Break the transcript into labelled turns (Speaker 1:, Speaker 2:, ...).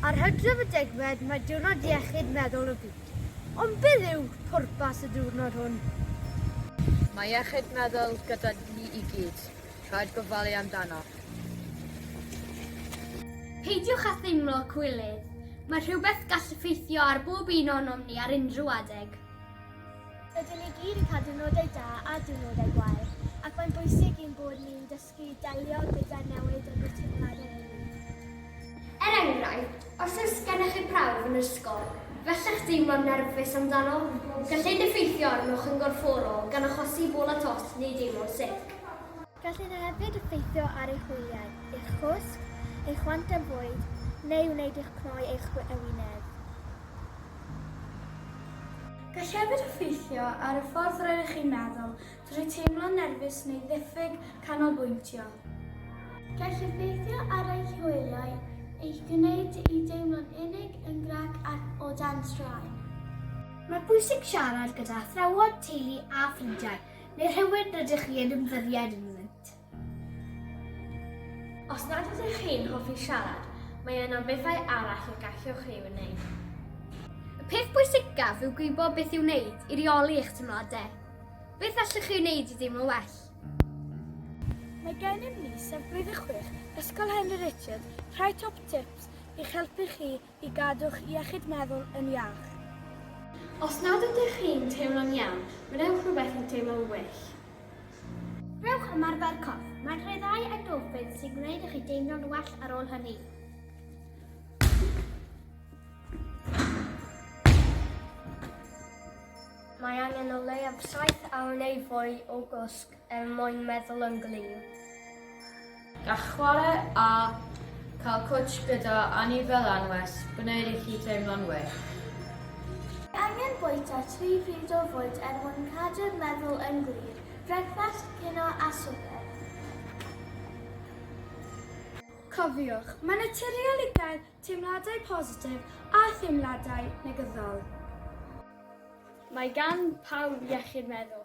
Speaker 1: Ar Hydref y degfed mae Diwrnod Iechyd Meddwl y Byd. Ond beth yw pwrpas y diwrnod hwn?
Speaker 2: Mae iechyd meddwl gyda ni i gyd. Rhaid gofalu amdano.
Speaker 3: Peidiwch â theimlo cywilydd. Mae rhywbeth gall effeithio ar bob un onom ni ar unrhyw adeg. Rydyn
Speaker 4: ni gyd yn cael diwrnodau da a diwrnodau gwael, ac mae'n bwysig i'n bod ni'n dysgu i delio gyda'r newid yn ein teimladau ni. Er
Speaker 3: enghraifft, os oes gennych chi prawf yn yr ysgol, bellach deimlo'n nerfus amdano, gall hyn effeithio arnoch yn gorfforol gan achosi bol a tost neu deimlo'n sic. Gallai hyn
Speaker 4: hefyd effeithio ar eich wyliau, eich chwsg, eich chwant am fwyd, neu wneud i'ch cnoi eich ewinedd.
Speaker 5: Gall hefyd effeithio ar y ffordd rydych chi'n meddwl drwy teimlo'n nerfus neu ddiffyg canolbwyntio.
Speaker 4: Gall effeithio ar eich hwyliau, eich gwneud i deimlo'n unig, yn grac ac o dan straen. Mae'n
Speaker 1: bwysig siarad gyda athrawon, teulu a ffrindiau Neu rhywun rydych chi yn ymddyried ynddynt.
Speaker 3: Os nad ydych chi'n hoffi siarad, mae yna bethau arall y gallwch ei wneud. Y peth bwysicaf yw gwybod beth i'w wneud i reoli eich teimladau. Beth allwch chi wneud i deimlo well?
Speaker 5: Mae gennym ni sef Blwyddyn Chwech Ysgol Henry Richard rhai top tips i'ch helpu chi i gadw'ch iechyd meddwl yn iach. Os
Speaker 3: nad ydych chi'n teimlo'n iawn, gwnewch rhywbeth i'w deimlo'n well.
Speaker 4: Rhowch ymarfer corff. Mae'n rhyddhau endorffins sy'n gwneud i chi deimlo'n well ar ôl hynny.
Speaker 3: Mae angen o leiaf saith awr neu fwy o gwsg. Er mwyn meddwl yn glir.
Speaker 2: Gall chwarae a cael cwtsh gyda anifail anwes gwneud i chi teimlo'n well.
Speaker 4: Angen bwyta tri phryd o fwyd er mwyn cadw'r meddwl yn glir, brecwast, cinio a swper.
Speaker 5: Cofiwch, mae'n naturiol i gael teimladau positif a theimladau
Speaker 3: negyddol. Mae gan
Speaker 5: pawb
Speaker 3: iechyd meddwl.